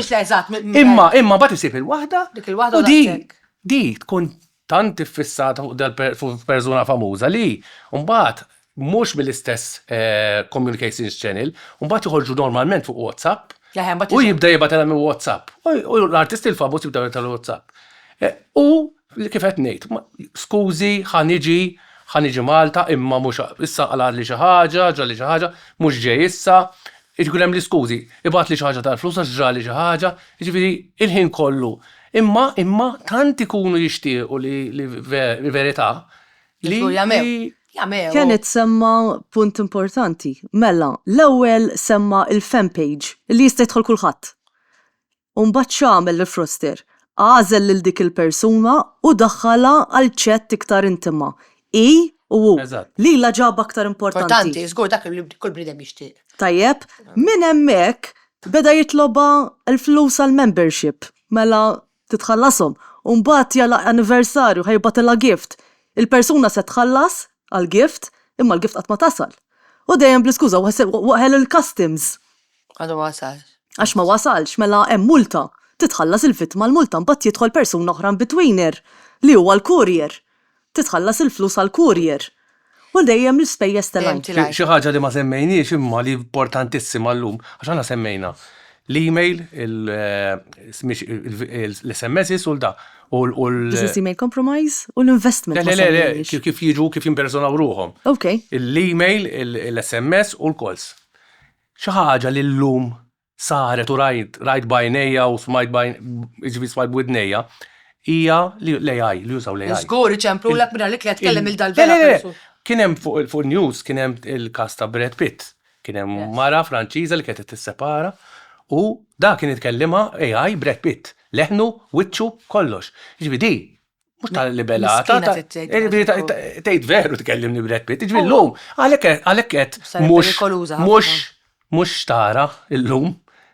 Imma imma bad isib il-waħda u di di tkun tant iffissata fuq persuna famuża li mbagħad mhux mill-istess communications channel, mbagħad joħorġu normalment fuq WhatsApp u jibda jibgħatilha minn WhatsApp. U l-artisti l-famuż jibdew jibgħatilha minn WhatsApp. U kif qed ngħid, skużi, ħa niġi, ħa niġi Malta, imma mhux issa qalgħatli xi ħaġa, ġrali xi ħaġa, mhux ġej issa, Irid ikun hemm l-iskużi, ibgħatli xi ħaġa tal-flus għax ġrali xi ħaġa, jiġifieri il-ħin kollu. Imma, imma tant ikunu jixtiequ li, li verità, li, Żgur jagħmel, li. jagħmel. Kenneth semma punt importanti. Mela, l-ewwel semma il-fan page li jista' jidħol kulħadd. U mbagħad x'għamel il-froster? Għażel lil dik il-persuna u daħħalha għal chat iktar intima. Hi u hu. Eżatt. Lilha ġabha aktar importanti. Importanti, żgur dak li kull bniedem jixtieq. Tajjeb, minn hemmhekk beda jitlobha l-flus għall-membership. Mela titħallashom. U mbagħad jagħlaq anniversarju, ħa jibgħatilha gift. Il-persuna se tħallas għall-gift, imma l-gift qatt ma tasal. U dejjem bl-iskuża, waħel il-customs. Għadu ma wasalx. Għax ma wasalx, mela hemm multa. Titħallas il-vittma l-multa mbagħad jidħol persuna oħra in-betweener, li huwa l-courier. Titħallas il-flus għall-courier. U dejjem l-ispejjeż telgħin. Xi ħaġa li ma semmejniex imma li importantissima llum, għax aħna semmejna l-email, l-SMSs u l-da. Business email compromise u l-investment. Le, le, le, le, kif jiġu, kif jimpersonaw ruħhom. L-email, l-SMS u l-calls. Xi ħaġa li llum saret u rajt, rajt b'għajnejja u smajt b'għajn, jiġifieri smajt b'widnejja, hija li l-AI, li jużaw l-AI. Żgur iċemplulek mingħajr li tliet tkellem lil dal-bela persuna. Le, le, le! Kien hemm fuq in-news, kien hemm il-każ ta' Brad Pitt. Kien hemm mara Franċiża li kienet qed tissepara u dak kien itkellimha AI, Brad Pitt. Leħnu, wiċċu, kollox. Jiġifieri di Mux tal libelata tgħid veru tkellimni Brad Pitt, ġvi l-lum, għalekket, mux, mux, mux xtara l-lum,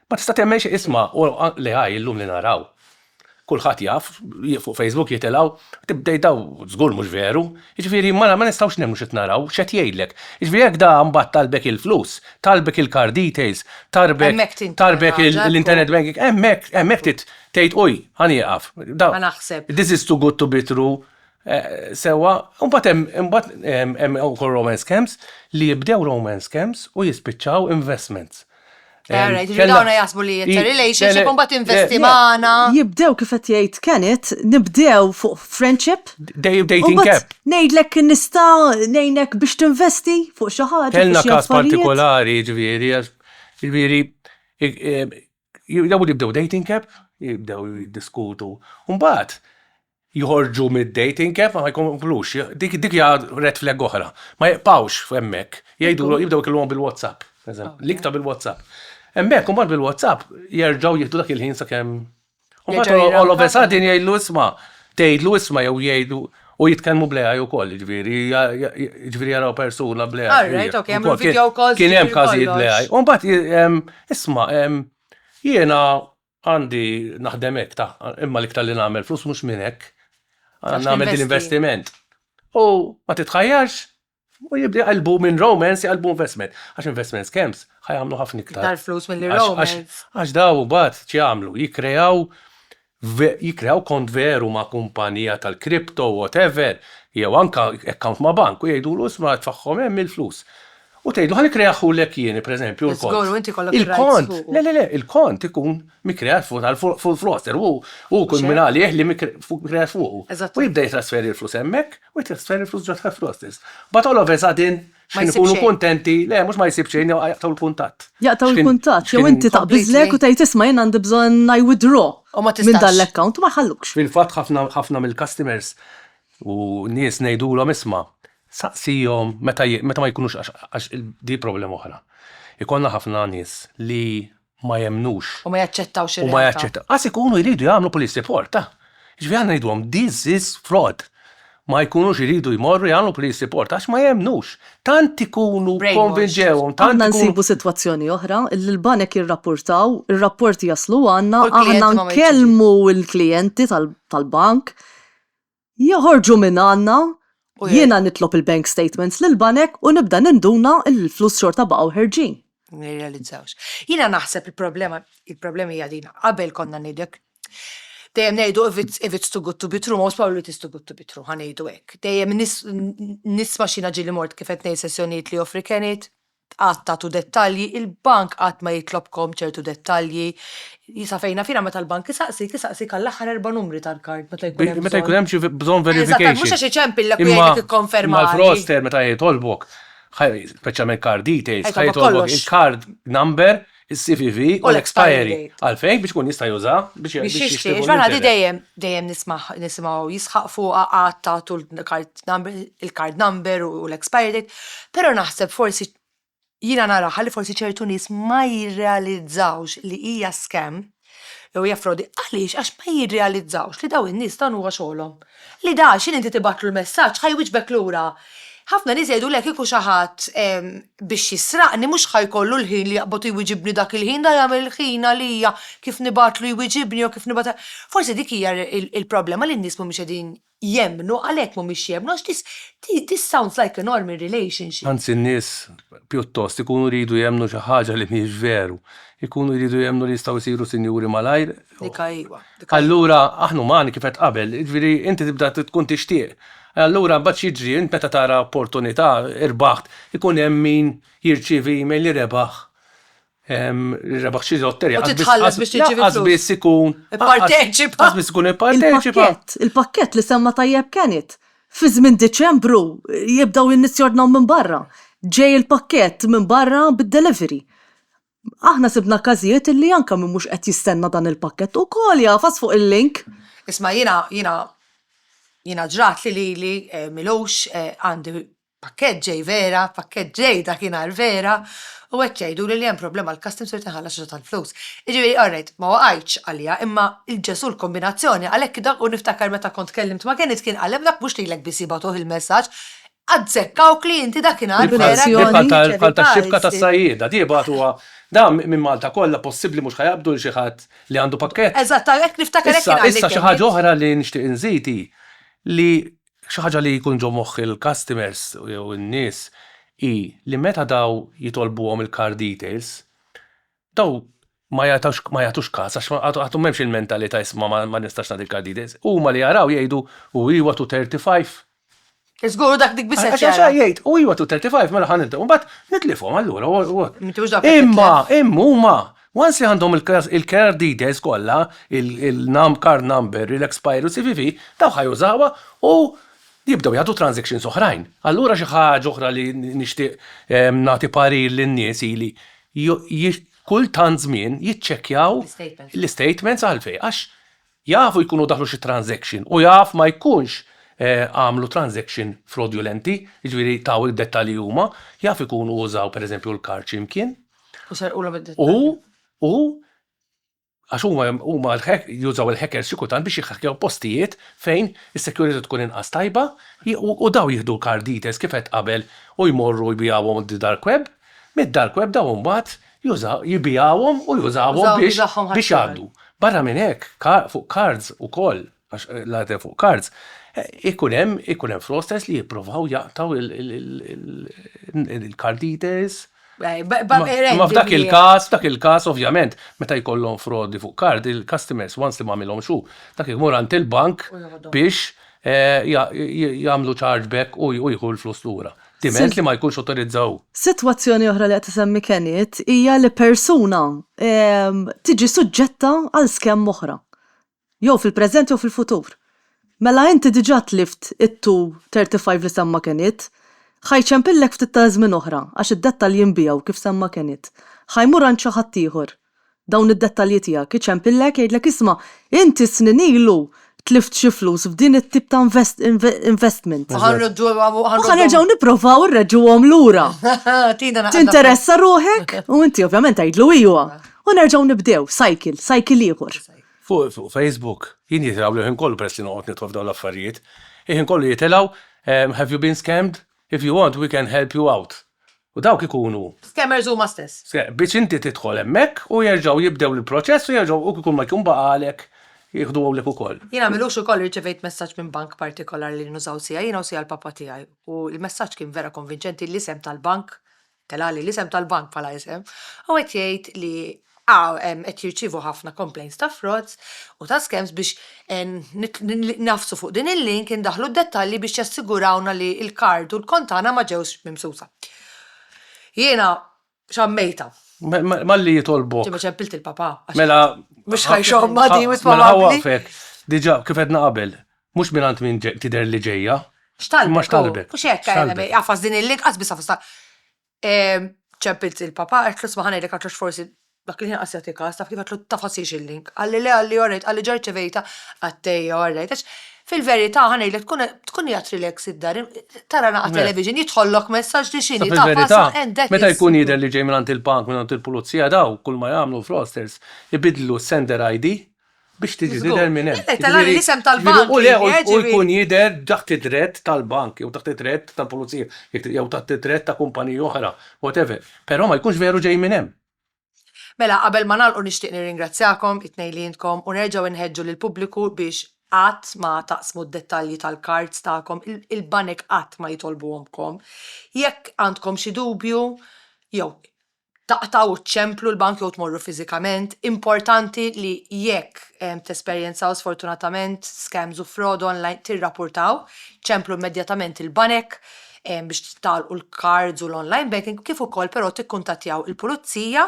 ma tista' temmen xie isma, u li għaj l-lum li naraw. Kulħat jaf, fuq Facebook jitilaw, tibdej daw, zgur mux veru, ġviri ma nistawx nemmu xie naraw, xie jgħidlek. Ġviri jek da mbat talbek il-flus, talbek il-card details, talbek l-internet banking, emmek, emmek tit, Tgħid uj, ħa nieqaf. Ħa naħseb. This is too good to be true. Sewwa, imbagħad hemm imbagħad hemm ukoll romance scams li jibdew romance scams u jispiċċaw investments. Għara, jiġri dawna jasbu li jitta relationship un bat investi maħna. Jibdew kifet jgħid Kenneth, nibdew fuq friendship. Dej dating cap. Nejdlek nista nejnek biex tinvesti fuq xaħġa. Kellna kas partikolari, ġviri, ġviri, Jibdew jibdew dating app, jibdew jiddiskutu. Mbagħad joħorġu mid-dating app ma jkomplux. Dik dik hija red flag oħra. Ma jibqgħux hemmhekk. Jgħidu jibdew ikellmuhom bil-WhatsApp. L-iktar bil-WhatsApp. Hemmhekk imbagħad bil-WhatsApp jerġgħu jieħdu dak il-ħin sakemm U Jerġgħu mbagħad jirrankaw. Olof Esad din jgħidlu isma', tgħidlu isma' jew jgħidu u jitkellmu bl-AI wkoll, jiġifieri ja- ja- ja- jiġifieri jaraw persuna bl-AI. All right, hija. ok, jagħmlu Ukoll kien- video calls, Kien hemm jiġifieri każijiet kollox. bl-AI. U mbagħad ji- em, isma' em, jiena għandi naħdem hekk ta' imma l-iktar li nagħmel flus mhux minn hekk. Għax Nagħmel din ninvesti. investiment. U ma titħajjarx U jibda jqalbu minn romance jqalbu investment. Għax investment scams ħajamlu ħafna iktar. Iktar flus mill romance. Għax daw bat ċjamlu, jikreaw jikreaw kont veru ma' kumpanija tal-crypto, whatever, jew anka account ma' bank u jgħidulu isma' tfaħħom hemm il-flus. U tgħidlu ħa nikreaħulek jien, per eżempju, il-kont. Żgur, u inti jkollok il-kont. Le, le, le, il-kont ikun mikreat fuq il-froster, hu jkun minn għalih li mikreat fuqu. U jibda jitrasferi l-flus hemmhekk. U jtiegħ stejjer il-flus ġo tħaff l-ħoss stess. Mbagħad all of a sudden, Ma x'ħin jsib ikunu xejn. kuntenti, le mhux ma jsib xejn, jew jaqtgħu l-kuntatt. Jaqtgħu X'ħin- l-kuntatt, jew x'ħin- inti taqbiżlek u Completely. tgħid isma' jien għandi bżonn I withdraw U ma minn tistax. dan l-account u ma jħallukx. Fil-fatt ħafna ħafna mill-customers u nies ngħidulhom isma' saqsihom meta j- meta ma jkunux għax għax il- di problema oħra. Ikollna ħafna nies li ma jemmnux. U ma jaċċettawx ir-realtà. U ma jaċċettaw. Qas ikunu jridu jagħmlu police report, ta'. Jiġifieri aħna ngħidulhom this is fraud. Ma jkunux iridu jmorru jagħmlu police report għax ma jemmnux. Tant ikunu konvinġewhom, tant ikunu. Aħna nsibu sitwazzjoni oħra li l-banek jirrappurtaw, ir-rapporti jaslu għandna, aħna nkellmu l-klijenti tal-bank, Joħorġu minn għandna, jiena nitlob il-bank statements lill-banek u nibda ninduna li l-flus xorta baqgħu ħerġin. Nirrealizzawx. Jiena naħseb il-problema, il-problema hija din, qabel konna ngħidlek dejjem ngħidu if it's too good to be true, most probably it is too good to be true, ħa ngħidu hekk. Dejjem nisma' xi ġieli mort kif qed ngħid sessjonijiet li joffri kenit, qatt tagħtu dettalji, il-bank qatt ma jitlobkom ċertu dettalji. Sa fejn naf jiena meta l-bank isaqsik, isaqsik għall-aħħar erba' numri tal-kard meta jkun hemm. Meta jkun hemm xi bżonn verification. Eżatt, mhux għax iċempillek u jgħidlek ikkonfermali. Imma l-fraudster meta jitolbok, speċjalment card details, ħa jitolbok il-card number is-CVV u l-expiry għalfejn biex ikun jista' juża biex biex jixtri. Ġvana di dejjem dejjem nismaħ nisimgħu jisħaq fuqha qatt tagħtu l-card number u l-expiry date, però naħseb forsi jiena naraha li forsi ċertu nies ma jirrealizzawx li hija scam Jew hija frodi. Għaliex? Għax ma jirrealizzawx li dawn in-nies dan huwa xogħolhom. Li da x'inhi inti tibgħatlu l-messaġġ ħa jwieġbek lura. Ħafna nies jgħidulek kieku xi ħadd biex jisraqni mhux ħa jkollu l-ħin li jaqbad iwieġibni dak il-ħin, da jagħmel il-ħin għalija kif nibgħatlu jwieġibni jew kif nibgħat. Forsi dik hija l-problema li n-nies mhumiex qegħdin jemmnu, għalhekk mhumiex jemmnu għax this this sounds like a normal relationship. Anzi n-nies pjuttost ikunu jridu jemmnu xi ħaġa li mhiex veru. Ikunu jridu jemmnu li jistgħu jsiru sinjuri malajr. Dik hi, ejwa, dik hi. Allura aħna umani kif għedt qabel, jiġifieri inti tibda tkun tixtieq. Allura mbagħad x'jiġri? Int meta tara opportunità, irbaħt, ikun hemm min jirċievi email li rebaħ rebaħ xi lotterija. U titħallas biex tiġi Għaz biss ikun. Parteċipa. Għaz biss ikun parteċipa. Il-pakket li semma tajjeb kenit. Fi żmien Diċembru jibdaw jinnisjordnaw minn barra. Ġej il-pakket minn barra bid-delivery. Aħna sibna każijiet illi anke min mhux qed jistenna dan il-pakket ukoll jagħfas fuq il-link. Isma' jiena jiena jiena ġrat li lili Milux għandi Pakkett ġej vera, pakkett ġej dakinhar vera, u qed jgħiduli li hemm problema l-customs u rrid inħallas xi ftit tal-flus. Jiġifieri, alright, ma waqajtx għaliha, imma il-Ġesù l-kombinazzjoni, għalhekk dak u niftakar meta kont tkellimt ma' Kenneth kien qal hemm dak mhux lilek biss jibgħatuh il-messaġġ, azzekkawk li inti dakinhar vera kont Di bħal ta' bħal tax-xibka tas-sajjieda, di jibgħatuha da minn Malta kollha, possibbli mhux ħa jaqbdu 'l xi ħadd li għandu pakkett? Eżatt, hekk niftakar hekk kien qal il-Kenneth. Issa, issa xi ħaġa oħra li nixtieq inżid hi li Xi ħaġa li jkun ġo moħħ il-customers jew in-nies hi li meta daw jitolbuhom il-card details, daw ma jagħtux kas għax għadhom m'hemmx il-mentalità isma' ma nistax nagħti l-card details. Huma li jaraw jgħidu u iwa to 35. Żgur u dak dik biss qed jara. Għax jgħid u iwa to 35 mela ħa nibdew. Imbagħad nitlifhom allura. Imma huma. Once li għandhom il-care details kollha, il-num, card number, il-expiry u cvv, dawk ħa jużawha u jibdew jagħtu transactions oħrajn. Allura xi ħaġa oħra li nixtieq nagħti parir lin-nies hi li kull tant żmien jiċċekkjaw l-istatements għalfejn għax Jafu jkunu daħlu xi transaction u jaf ma jkunx għamlu transaction frodulenti, jiġifieri taw id-dettalji huma, jaf ikunu użaw pereżempju l-kard xi mkien. U serqulhom id-dettalji. U, u, għax huma, huma jużaw il-hackers xi kultant biex jihhackjaw postijiet fejn is-security tkun inqas tajba u dawn jieħdu l-card details kif għedt qabel u jmorru jbigħuhom d-dark web, mid-dark web dawn imbagħad jibigħhom u jużahom biex jgħaddu. Barra minn hekk, fuq kards ukoll, għax l-għadd fuq kards, ikun hemm ikun hemm fraudsters li jippruvaw jaqtgħu il-card details. Ma f'dak il-każ, f'dak il-każ ovvjament, meta jkollhom frodi fuq kard, il-customers once li m'għamilhomx hu, dak imur għand il-bank biex jagħmlu chargeback u jieħu l-flus lura. Diment li ma jkunx awtorizzaw. Sitwazzjoni oħra li qed isemmi Kenneth hija li persuna ehm, tiġi suġġetta għal skemm oħra. Jew fil-preżent jew fil-futur. Mela inti diġà tlift it-235 li semma Kenneth. Ħajċempillek ftit ta' żmien oħra għax id-dettalji nbiegħu kif semma Kenneth. Ħajmur għand xi ħadd ieħor. Dawn id-dettalji tiegħek iċempillek jgħidlek isma' inti snin ilu tlift xi flus f'din it-tip ta' investment. U ħa nerġgħu nipprovaw inreġġuhom lura. Tinteressa ruħek? U inti ovvjament tgħidlu iwa. U nerġgħu nibdew cycle, cycle ieħor. Fuq Facebook jien jitilgħu l-ħin kollu peress li noqgħod nidħol f'dawn l-affarijiet. Il-ħin kollu jitilgħu have you been scammed? If you want we can help you out. U dawk ikunu. Scammers huma stess. Biex inti tidħol hemmhekk u jerġgħu jibdew il-proċess u jerġgħu u kikun ma jkun baqgħalek jieħdu hawnlek ukoll. Jiena m'ilux ukoll irċevejt messaġġ minn bank partikolari li nużaw siegħi jiena u siegħi l-papà tiegħi u l-messaġġ kien vera konvinċenti l-isem tal-bank telali l-isem tal-bank bħala isem, u qed jgħid li qed jirċievu ħafna complaints ta' frauds u ta' scams biex ngħafsu fuq din il-link indaħħlu d-dettalji biex jassigurawna li l-card u l-kont tagħna ma ġewx mimsusa. Jiena xammejtha. Malli jitolbok. Ġimgħa ċempilt il-papà. Mela. Mhux ħajxommha di mhux probabbli. Mela ħawaqfek. Diġà kif għedna qabel. Mhux mingħand min tidher li ġejja. Imma x'talbet? Mhux hekk, x'talbet? Għafas din il-link qatt biss għafas ta' ċempilt il-papà għedtlu isma' ħa ngħidlek għax hux forsi dak il-ħin qatt jagħti każ, taf kif għedtlu tafasiex il-link. Qalli le qalli orrejt qalli ġa rċevejtha qattejja orrejt għax fil-verità ħa ngħidlek tkun tkun qiegħed relax id-dar tara naqgħa television jidħollok messaġġ li x'inhi taf fil-verità għendek meta jkun jidher li ġej mingħand il-bank mingħand il-pulizija daw kull ma jagħmlu l-fraudsters ibiddlu s-sender ID biex tiġi tidher minn hemm. Meta nagħmel l-isem tal-bank. U le, u jkun jidher taħt id-drett tal-bank jew taħt id-drett tal-pulizija jew taħt id-drett ta' kumpaniji oħra, whatever, però ma jkunx veru ġej minn hemm. Mela, qabel ma nagħlqu nixtieq nirringrazzjakom it-tnejn li intkom u nerġgħu inħeġġu lill-pubbliku biex qatt ma taqsmu d-dettalji tal-cards tagħkom, il-banek qatt ma jitolbuhomlkom. Jekk għandkom xi dubju jew taqtgħu ċ-ċemplu l-bank jew tmorru fiżikament. Importanti li jekk tesperjenzaw sfortunatament scams u fraud online tirrapportaw, ċemplu immedjatament il-banek biex tagħlqu l-cards u l-online banking kif ukoll però tikkuntattjaw il-pulizija.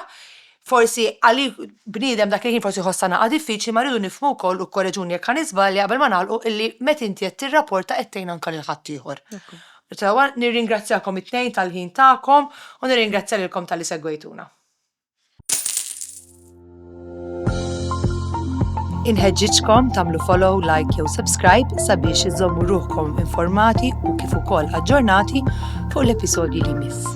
Forsi għalik bniedem dak il-ħin forsi jħossha naqa' diffiċli ma rridu nifhmu wkoll u korreġuni jekk ħa niżbalja qabel ma nagħlqu illi meta inti qed tirrapporta qed tgħin anke lil ħaddieħor. Sewa, nirringrazzjakom it-tnejn tal-ħin tagħkom u nirringrazzja lilkom talli segwejtuna. Inħeġġiġkom tagħmlu follow, like jew subscribe sabiex iżżommu ruħkom informati u kif ukoll aġġornati fuq l-episodji li jmiss.